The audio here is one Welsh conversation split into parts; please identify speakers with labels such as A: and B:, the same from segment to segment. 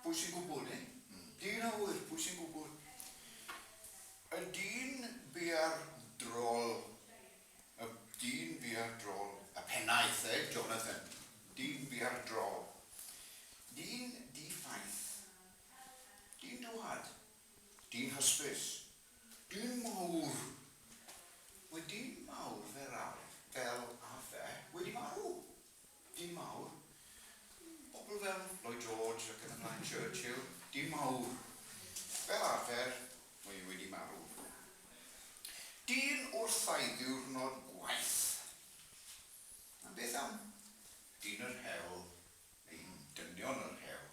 A: Pwy sy'n gwybod, eh? Dyn a ŵyr, pwy sy'n gwybod? Y dyn bia'r drol, y dyn bia'r drol. Y pennaeth, eh, Jonathan? Dyn bia'r drol. Dyn di-ffaith. Dyn dwad. Dyn hysbys. Dyn mawr. Mae dyn mawr fel arf, fel arfer, wedi marw. Dyn mawr. Pobl fel Lloyd George ac yn y blaen, Churchill, dyn mawr. Fel arfer, mae e wedi marw. Dyn wrth ei ddiwrnod gwaith. A beth am dyn yr hewl, neu'n dynion yr hewl?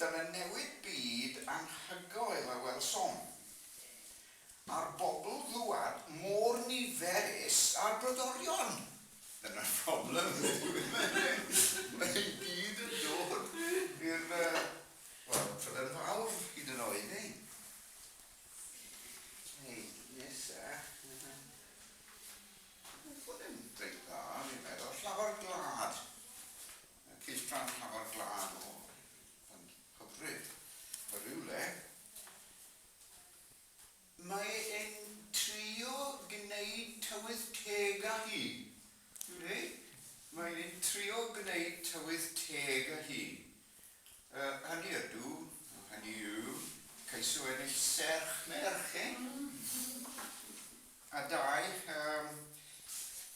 A: Dyna newid byd anhygoel a welsom. A'r bobl ddwad mor niferus a'r brodorion! Dyna'r problem ynde dyw e ddim. Mae i gyd yn dod i'r wel, Trydan Fawr hyd yn oed neu? Hei, nesa. Oedd hwn yn reit dda, fi'n meddwl. Llafar gwlad. Cylchgrawn llafar glân o fy nghyfrif o rywle. Mae e'n trio gneud tywydd teg â hi. Yndi, mae e'n trio gneud tywydd teg â hi. Yy, hynny ydw, hynny yw, ceisio ennill serch merch, eh? A dau, yym,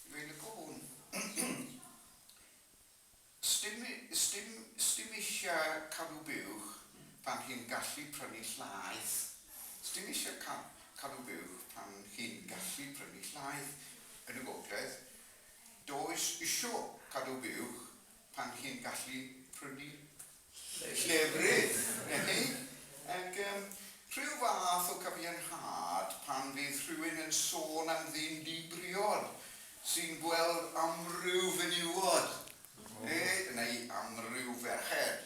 A: dwi'n lico hwn. Sdim, sdim, sdim isha cadw buwch pan chi'n gallu prynu llaeth. Sdim isha ca, cadw buwch pan chi'n gallu prynu llaeth. Yn y gogledd, does isho cadw buwch pan chi'n gallu prynu llefrith neu ag yym rhyw fath o cyfiawnhad pan fydd rhywun yn sôn am ddyn di-briod sy'n gweld amryw fenywod neu neu amryw ferched.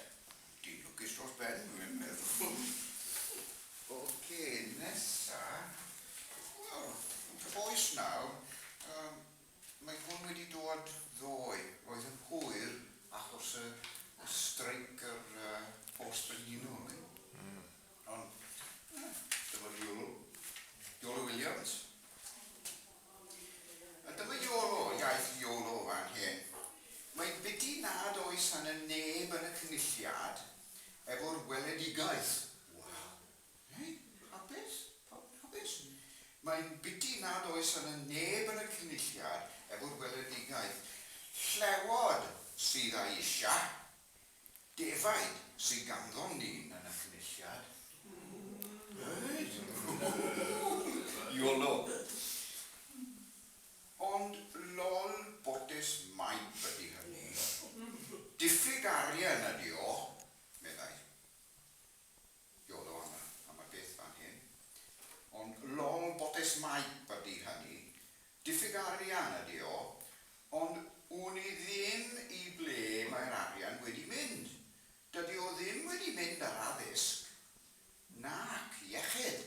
A: Dyn lwcus dros ben dwi yn meddwl. Oce, nesa. Wel, yn cyfoes nawr, yym, Mae hwn wedi dod ddoe. Roedd yn hwyr achos y streic yr post brenhinol neu ond dyma Iolo. Iolo Williams. A dyma Iolo, iaith Iolo fan hyn. Mae'n biti nad oes arnyn neb yn y cynulliad efo'r weledigaeth. Waw! Mae'n hapus, pawb yn hapus. Mae'n biti nad oes yna neb yn y Cynulliad efo'r weledigaeth, llewod sydd â'i eisiau, defaid sydd ganddon ni yn y Cynulliad. Reit! Yolo! Ond lol botes maip ydi hynny. Diffyg arian ydi o, meddai. Diolch o anna am y peth fan hyn. Ond long botes maip ydy hynny. Diffyg arian ydy o. Ond wn i ddim i ble mae'r arian wedi mynd. Dydy o ddim wedi mynd ar addysg nac iechyd.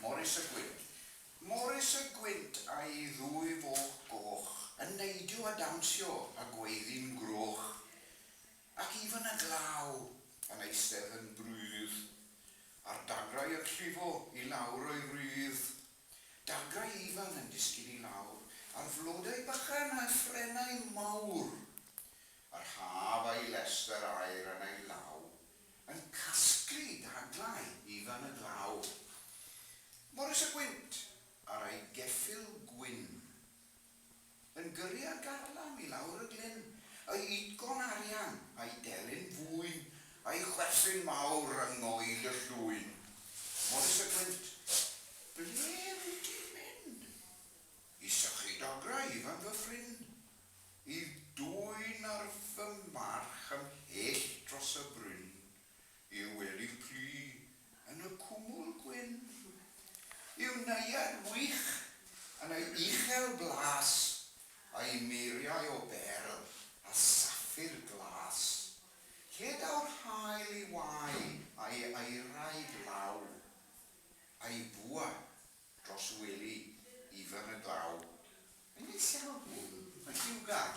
A: Morys y Gwynt. Morys y Gwynt a'i ddwy foch goch. Yn neidio a dawnsio a gweiddi'n groch, ac even y glaw yn eistedd yn brüdd, a'r dagrau yn llifo i lawr o'i rüdd. Dagrau ifan yn disgyn i lawr, ar flodau bychan a phrennau mawr. Yr haf a'i lestr aer yn ei law. Yn casglu dadlau i fan y glaw. Morys a Gwynt ar ei geffyl gwyn. Yn gyrru ar garlam i lawr y glyn, y utgorn arian a'i delyn fwyn, a'i chwerthin mawr yng ngoel y llwyn. Morys a Gwynt, ble wyt ti'n mynd? I sychu dograu i fam fy ffrind. I dwyn ar fy march ymhell dros y bryn. I'w welyf plu yn y cwmwl gwyn. I'w neuadd wych yn ei uchel blas. A'i muriau o berl a saffir glas. Lle daw'r haul i wau a'i aerau glaw. A'i bwa Dros wely ifan y glaw. Yn ei llaw, mae lliwgar.